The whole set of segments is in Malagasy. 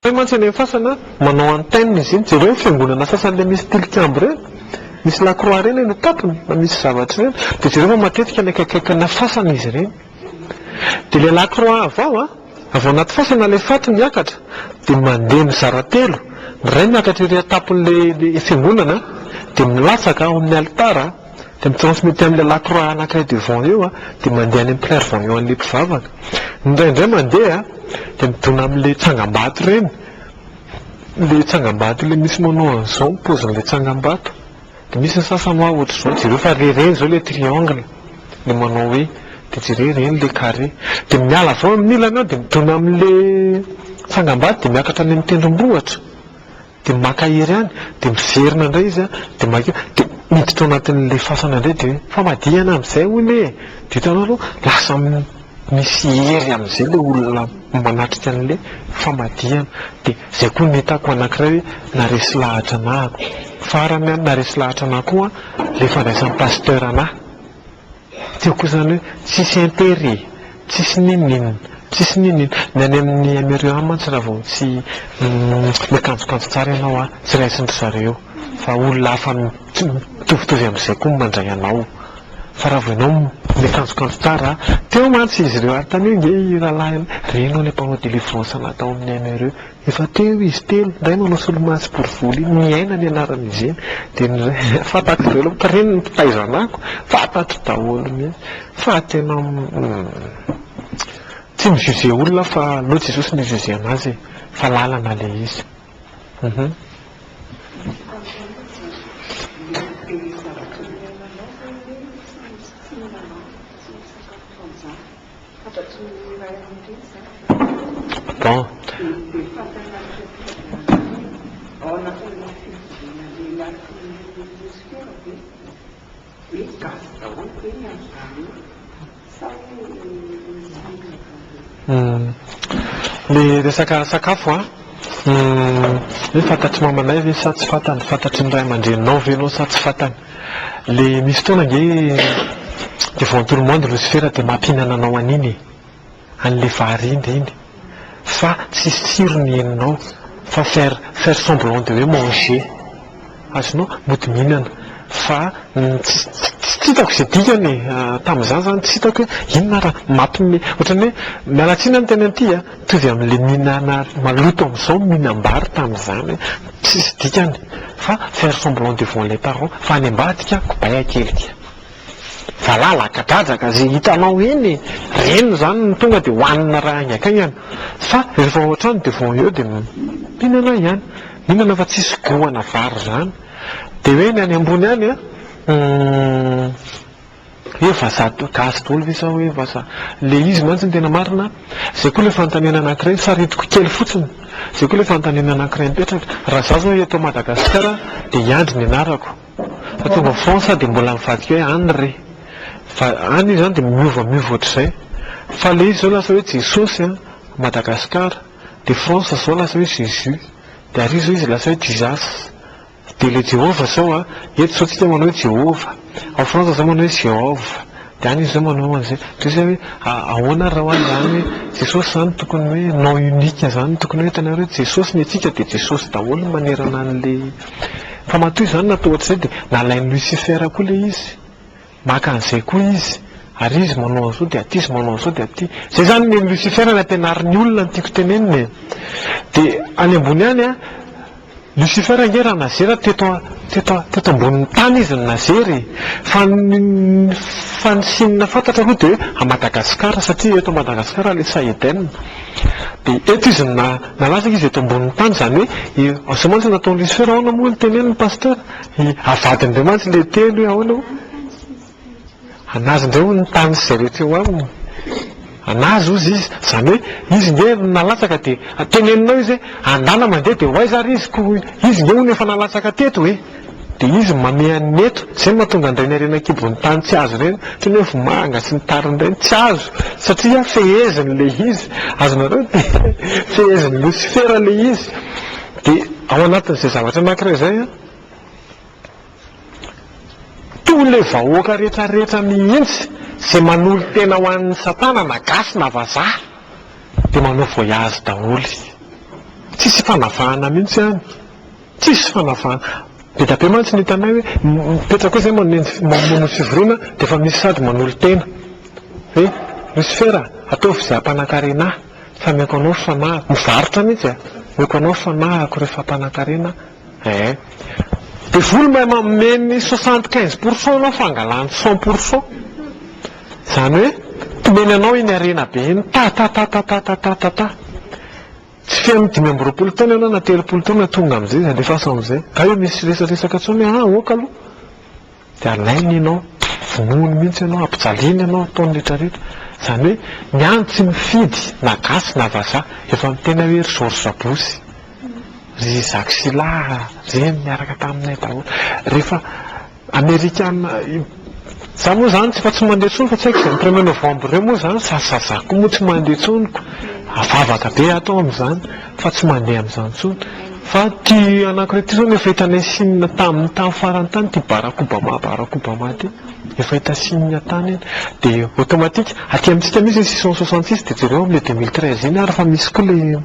Hay mantsy any amin'ny fasana manao antenne izy iny, jereo ny fiangonana sasany ilay misy tilikambo ireny, misy la croix ireny eny an-tampony fa misy zavatra ireny, dia jereo fa matetika any akaikaikina fasana izy ireny, dia ilay la croix avy ao a, avy ao anaty fasana ilay faty miakatra dia mandeha mizara telo, ny iray miakatra ery an-tampon'ilay fiangonana dia milatsaka ao amin'ny alitara, dia mi-transmette amin'ilay lakroa anankiray devant eo an, dia mandeha any amin'ny clairvoyant an'ilay mpivavaka, indraindray mandeha dia midona amin'ilay tsangambato ireny, ilay tsangambato ilay misy manao an'izao ny paozin'ilay tsangambato, dia misy ny sasany hoa ohatr'izao, jereo fa re ireny izao ilay triangle, ilay manao hoe, dia jereo ireny ilay carré, dia miala avy eo amin'ilany aho dia midona amin'ilay tsangambato dia miakatra any amin'ny tendrombohitra, Dia maka hery any, dia miverina indray izy an, dia maika, dia miditra ao anatin'ilay fasana indray dia hoe famadihana amin'izay hono e! Dia hitanao aloha lasa misy hery amin'izay ilay olona manatrika an'ilay famadihana. Dia izay koa no hitako anankiray hoe naharesy lahatra anah. Farany an, naharesy lahatra anah koa ilay fandraisan'i Pasteur anah. Teo kosa izany hoe tsisy intérêt e, tsisy n'inon'inona, tsisy n'inon'inona. Ny any amin'ny Aimericains any mantsy raha vao tsy miakanjokanjo tsara ianao an, tsy raisin-dry zareo fa olona hafa mitovitovy amin'izay koa no mandray anao. Fa raha vao ianao miakanjokanjo tsara, teo mantsy izy ireo ary taniho ange i rahalahy, reny hono ilay mpanao délivrance anah tao amin'ny Aimericains. Efa teo izy telo, ny iray manao solomaso borivory iny, Miaina ny anarany izy iny, dia ny iray, fantatro daholo ny mpiriny, ny mpitaizanako, fantatro daholo mihintsy, fa tena tsy mi-juger olona aho fa aleo Jesosy no hi-juger an'azy e, fa lalana ilay izy. Ny resaka sakafo an, hoe fantatry mamanay ve sa tsy fantany, fantatry ny ray aman-dreninao ve ianao sa tsy fantany. Le misy fotoana ange devant tout le monde losifera de mampihinana anao an'iny e! an'le vary ind iny fa tsisy tsirony henonao fa faire faire semblant de hoe manger azonao? mody mihinana fa tsy tsy hitako ze dikany e! tamin'izany zany tsy hitako hoe inona ary mampme ohatran'ny hoe miala tsiny amin'ny teny anty a! Mitovy amin'ilay mihinana maloto amin'izao ny mihinam-bary tamin'izany, tsisy dikany fa faire semblant devant les parents fa any ambadika kobay akelika. Valala, akadradraka, izay hitanao eny e! Ireny izany no tonga dia hohanina raha haingakaingana fa rehefa ao an-trano devant eo dia mihinana ihany. Mihinana fa tsisy goût ana vary izany. Dia hoe ny any ambony any an! Hoe vazaha gasy daholo ve sa hoe vazaha? Ilay izy mantsy no tena marina an! Izay koa ilay fanontaniana anankiray, ny saritiko kely fotsiny, izay koa ilay fanontaniana anankiray mipetraka, raha izaho izao eto Madagasikara dia i Andry ny anarako, fa tonga ao France aho dia mbola mivadika hoe Anry, fa any izany dia miova miova ohatr'izay, fa ilay izy izao lasa hoe Jesosy an! Madagasikara, dia France izao lasa hoe Jésus, dia ary izao izy lasa hoe Jesus. Dia ilay Jehovah izao a, eto izao tsika manao hoe Jehovah, ao Frantsa izao manao hoe Jehovah, dia any izy izao manao an'izay, dia zay hoe ahoana ary raha ho an'izany hoe Jesosy izany tokony hoe nom unique izany, tokony hoe hitanareo hoe Jesosy ny antsika dia Jesosy daholo ny manerana an'ilay, fa matoa izany natao ohatr'izay dia nalain'i Lucifer koa ilay izy. Maka an'izay koa izy, ary izy manao an'izao dia aty, izy manao an'izao dia aty. Izay izany ny Lucifer no ampianarin'ny olona no tiako tenenina e. Dia any ambony any, Lucifer ange raha nazery teto teto teto ambonin'ny tany izy no nazery e. Fa ny fa ny Chine fantatra aloha dia hoe à Madagascar satria eto Madagascar ilay Sahedn. Dia eto izy no na nalaza izy eto ambonin'ny tany izany hoe, izao mantsy no nataon'i Lucifer, ahoana moa no teneniny Pasteur? I avadin'ireo mantsy ilay teny hoe ahoana o? Anazy indray hono ny tany sy izay rehetra eo aminy. Anazy hozy izy. Izany hoe izy nge no nalatsaka dia teneninao izy hoe andana mandeha dia ho aiza ary izy koa izy nge hono efa nalatsaka teto e! Dia izy no mameha ny eto. Izay no mahatonga an'ireny harena an-kibon'ny tany tsy azo ireny, toy ny hoe vomanga sy ny tariny ireny, tsy azo satria fehezin'ilay izy. Azonareo ny teny hoe fehezin'i Losifera ilay izy. Dia ao anatin'izay zavatra anankiray izay, toy ilay vahoaka rehetrarehetra mihitsy izay manolo-tena ho an'i Satana na gasy na vazaha dia manao voyage daholo. Tsisy fanavahana mihitsy any. Tsisy fanavahana. Be dia be mantsy ny hitanay hoe mipetraka eo izay mamono ny fivoriana dia efa misy sady manolo-tena hoe Lucifer a, ataovy izay hampanankarena ahy. Fa meko anao famahako. Mivarotra mihitsy e. Meko anao famahako rehefa mpanankarena eh. Devoly mahay manome ny soixante quinze pourcent anao fa angalany cent pourcent. Izany hoe tomeny anao iny harena be iny ta-ta-ta-ta-ta-ta-ta-ta-ta. Tsy feno dimy amby roapolo taona ianao na telopolo taona tonga amin'izay izy alefaso amin'izay. Hay misy resadresaka intsony ah ok aloha. Dia alainy ianao, vonoiny mihitsy ianao, ampijaliany ianao, ataony rehetra rehetra. Izany hoe ny any tsy mifidy na gasy na vazaha, efa miteny hoe ry George Bush, ry Jacques Chilard, ireny niaraka taminay daholo. Rehefa amerikana, izaho moa izany efa tsy mandeha intsony fa tsy haiko izany premier novembre ireo moa izany sazazako koa moa tsy mandeha intsony, vavaka be aho tao amin'izany. fa tsy mandeha amin'izany intsony fa ity anankiray ity izao no efa hitanay signe tamin'ny tany farany tany ity Barack Obama Barack Obama ity efa hita signe tany iny dia automatique aty amintsika misy ny six cent soixante six dia jereo amin'ilay deux mille treize iny ary fa misy koa ilay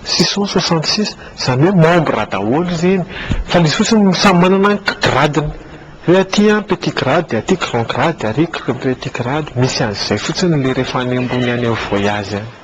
six cent soixante six izany hoe membre daholo ireny fa ilay izy fotsiny samy manana ny gradiny hoe aty an petit grade dia aty grand grade dia ary petit grade misy an'izay fotsiny ilay rehefa any ambony any amin'ny voyage any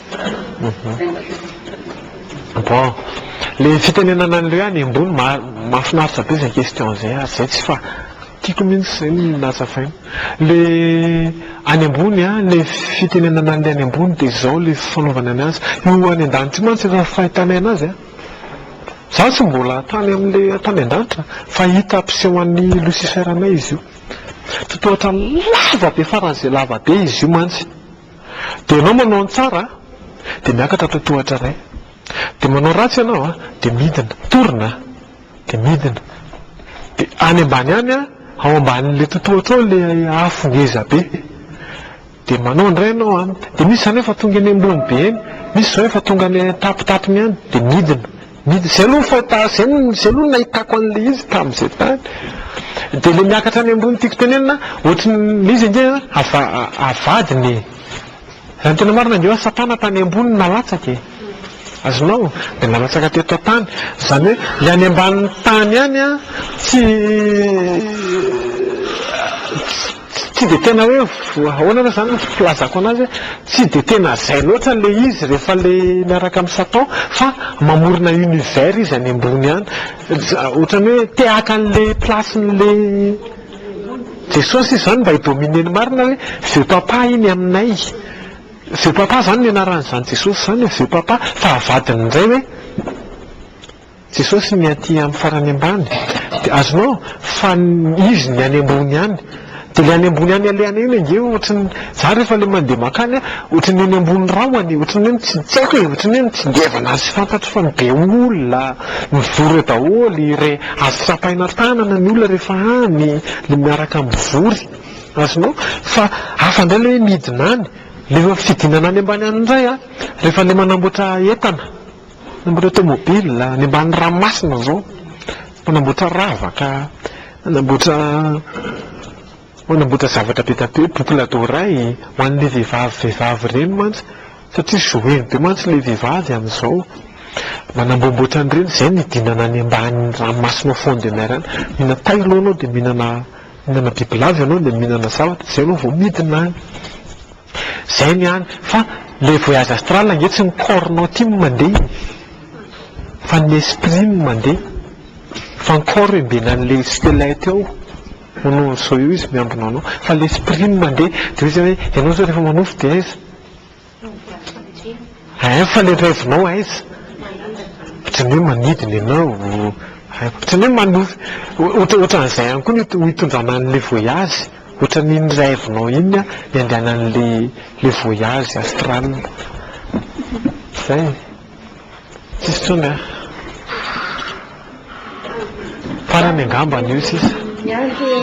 Bon, le fitenenana an'ireo ihany embony mahafinaritra be izay question izay ary izay tsy fa tiako mihitsy izay no nazavaina. Le any ambony an, le fitenenana an'ilay any ambony dia izao le fanaovana ny azy. Io any an-danitra io mantsy efa fahitanay an'azy an, izaho tsy mbola tany amin'ilay tany an-danitra fa hita ampisehoan'ny lucifer anay izy io. Totohatra lava be faran'izay lava be izy io mantsy. Dia ianao manao ny tsara a, dia miakatra totohatra iray. Dia manao ratsy ianao a, dia midina, torina a, dia midina. Dia any ambany any a, ao ambanin'ilay totohatra ao ilay afo ngeza be. Dia manao indray ianao a, dia misy izany efa tonga eny ambony be eny, misy izao efa tonga any an-tapitapiny any, dia midina. Ny zay aloha ny fahita zay no zay aloha no nahitako an'ilay izy tamin'izay tany. Dia ilay miakatra any ambony tiako tenenina ohatry ny ilay izy ange ava avadiny e! Raha ny tena marina ange hoe satana tany ambony no nalatsaka e! Azonao? Dia nalatsaka teto an-tany. Izany hoe ilay any ambanin'ny tany any an, tsy Tsy dia tena hoe ahoana ary izany no filazako an'azy hoe tsy dia tena izay loatra ilay izy rehefa ilay miaraka amin'i Satan fa mamorona univers izy any ambony any. Ohatran'ny hoe te haka an'ilay place-n'ilay Jesosy izy izany mba hi-dominer ny marina hoe veux papa iny aminay. Veux papa izany no ianaran'izany Jesosy izany hoe veux papa fa avadiny indray hoe. Jesosy ny aty am farany ambany de azonao fa izy ny any ambony any de le any ambony any alehany iny ange ohatriny za refa le mande makany a ohatriny eny ambony rahony ohatriny hoe tsy tsy aiko e ohatriny hoe mitsingevana azy fantatro fa be olona mivory eo daholy re azo tsapaina tanana ny olona refa any le miaraka mivory azonao fa hafa ndray le hoe midina any le fidinana any ambany any ndray a refa le manamboatra entana Nanamboatra automobile, any ambany ranomasina izao, manamboatra ravaka, manamboatra manamboatra zavatra be dia be, boucle d'oreille, ho an'ilay vehivavy vehivavy ireny mantsy, satria jouer-ny be mantsy ilay vehivavy amin'izao. Manamboamboatra an'ireny, izay no hidinana any ambany ranomasina ao fond de mer any, mihinana tay aloha ianao dia mihinana mihinana bibilava ianao dia mihinana zavatra, izay ianao vao midina any. Zay ny any fa le voyage astral ange tsy ny corps nao ty no mandeha e! fa ny esprit no mandeha fa ny corps embena anle skelete eo ono zao eo izy miambina anao fa le esprit no mandeha de oe zay oe enao zao refa manofy de aiza? Ein fa le reve nao aiza? otrany oe manidina enao otrany oe manofy otran'izay ihany koa no hitondrana anle voyage Ohatran iny rêve nao iny an ny andehanan le le voyage astral zay e! tsisy tsony an! farany angambany io sisa. Miandry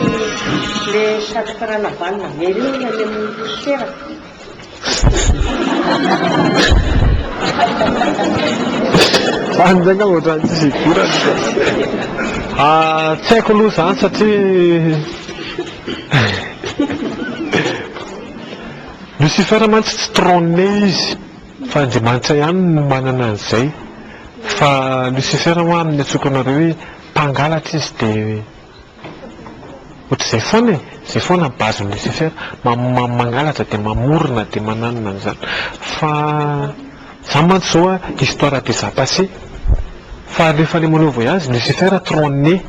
le satroka ranavalona very eo any amin'ny poussière. Any zay ngamba ohatran'ny tsisy hidirany ka. Ah, tsy haiko aloha izany satria Lucifer mantsy tsy trône izy fa Andriamanitra ihany no manana an'izay fa Lucifer ho'a amin'ny antsoiko anareo hoe mpangalatra izy dia Ohatr'izay foana e! Izay foana ny base nécessaire. Mangalatra dia mamorona dia mananona an'izany. Fa za mantsy izao a, histoire déjà passée. Fa rehefa ilay manao voyage nécessaire trois années.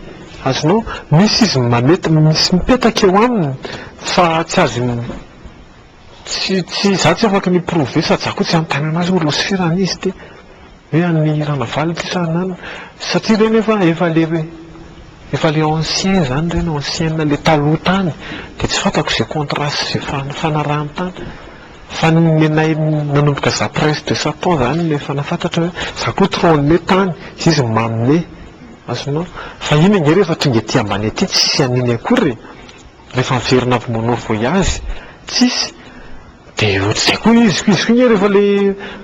Azonao? Misy izy mameta, misy mipetaka eo aminy fa tsy azo. Tsy, tsy, izaho tsy afaka mi-prouver sady izaho koa tsy hanontaniana azy hoe losifera anie izy ity. Hoe an'i Ranavalona ity sa ananana. Satria ireny efa, efa le, efa le ancien izany ireny, ancienne, le taloha tany. Dia tsy fantako izay contrat sy izay fanarahan-tany. Fa ny nenay nanomboka izaho presque de sept ans izany no efa nahafantatra hoe izaho koa trop an'ilay tany, izy manome. Azonao? Fa iny ange rehefa tonga ety ambany ety tsy an'iny akory e! rehefa miverina avy manao voyage tsisy de ohatr'izay koa izy, izy koa nge rehefa le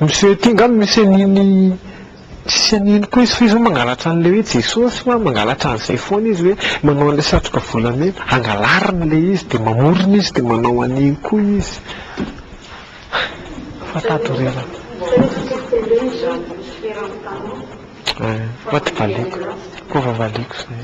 miseho aty nga misy an'iny tsisy an'iny koa izy fa izy hoe mangalatra an'le hoe Jesosy fa mangalatra an'izay foana izy hoe manao an'le satroka volamena hangalariny le izy de mamorona izy de manao an'iny koa izy fa valiako zay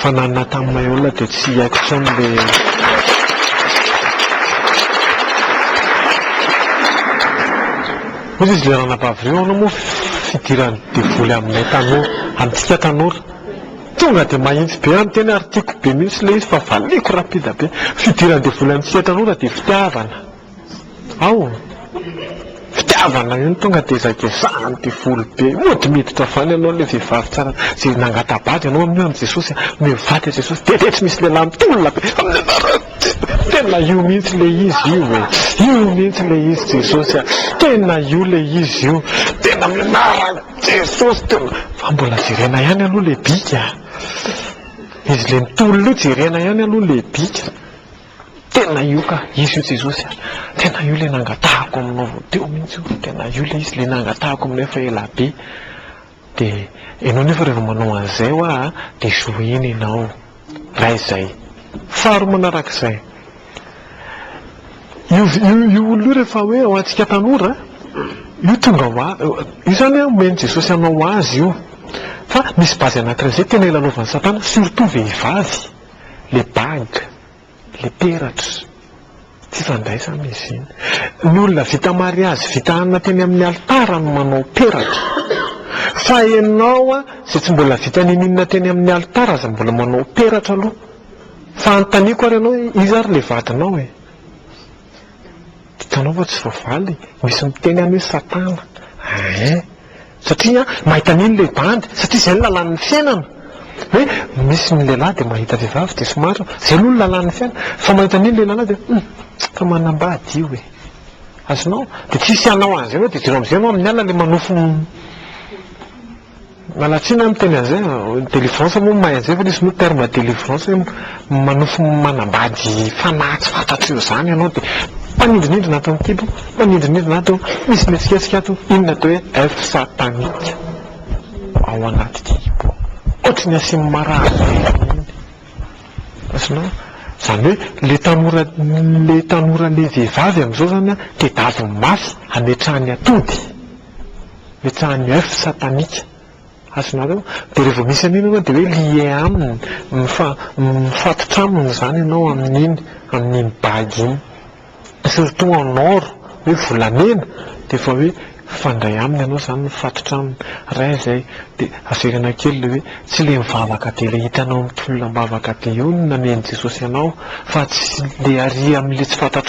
Fa na ny Nathan Maiola dia tsy haiko intsony le Hoy izy le ranabavy reo anao moa fidiran'ny devoly aminay tanora, amintsika tanora. Tonga dia mahintsy be aho miteny ary tiako be mihitsy le izy fa valiako rapida be. Fidiran'ny devoly amintsika tanora dia fitiavana. Ao! Fitiavana io no tonga dia ezakaezahana ny devoly be. Mody miditra avy any ianao ilay vehivavy tsara izay nangata-bady anao amin'io an'i Jesosy. Omeo vady an'i Jesosy dia dia tsy misy lehilahy mitolona be amin'ny anarany. Tena io mihitsy ilay izy io e! Io mihitsy ilay izy Jesosy a! Tena io ilay izy io! Tena amin'ny anaran'i Jesosy tena! Fa mbola jerena ihany aloha ilay bika a! Izy ilay mitolona io jerena ihany aloha ilay bika. Tena io ka, izy io Jesosy a! Tena io ilay nangatahako aminao vao teo mihitsy io, tena io ilay izy, ilay nangatahako aminao efa ela be. Dia ianao nefa rehefa manao an'izay ho ahy dia jouer-ny ianao. Iray izay. Faharoa manarak'izay, io io olona io rehefa hoe ho antsika tanora, io tonga ho azy, io izany omen'i Jesosy anao ho azy io, fa misy base anankiray izay tena ilalovan'i Satana, surtout vehivavy. le bague, le peratra, tsy fandraisana izy iny. Ny olona vita mariazy vita anona teny amin'ny alitara no manao peratra. Fa ianao izay tsy mbola vita ninoninona teny amin'ny alitara aza mbola manao peratra aloha. Fa anontaniako ary ianao hoe iza ary ilay vadinao e? Hitanao fa tsy voavaly e! Misy miteny any hoe satana. Eeh. Satria an, mahita an'iny ilay bandy, satria izay no lalàn'ny fiainana. Hoe misy ny lehilahy dia mahita vehivavy dia somary, izay aloha no lalàn'ny fiainana. Fa mahita an'iny ilay lehilahy dia hum, fa manambady io e! Azonao? Dia tsy hisy hanao an'izay hoe dia jiro amin'izay ianao amin'ny alina ilay manofy ny. Malatsina aho miteny an'izay a, delivrance moa mahay an'izay fa ilay izy moa terme delivrance hoe manofy manambady fanahy tsy fantatr'ireo izany ianao dia mpanindrinindrina ato an-kibo, mpanindrinindrina ato, misy mihetsiketsika ato, iny no atao hoe elfes sataniques ao anaty kibo ao. Ohatry ny asian'ny marary veniny iny. Azonao? Izany hoe ilay tanora ilay tanora ilay vehivavy amin'izao izany an, tedaviny mafy hametrahany atody. Ipetrahan'ny oeuf satanika. Azonareo? Dia rehefa vao misy an'iny ianao dia hoe lié aminy, mifa, mifatotra aminy izany ianao amin'iny, amin'iny bague iny. Surtout en or, hoe volamena, dia efa hoe mifandray aminy ianao izany, mifatotra aminy. Ray izay, dia averina kely ilay hoe, tsy ilay mivavaka dia ilay hitanao mitolona am-bavaka dia eo no namehan'i Jesosy anao, fa tsy ilay ary amin'ilay tsy fantatrao.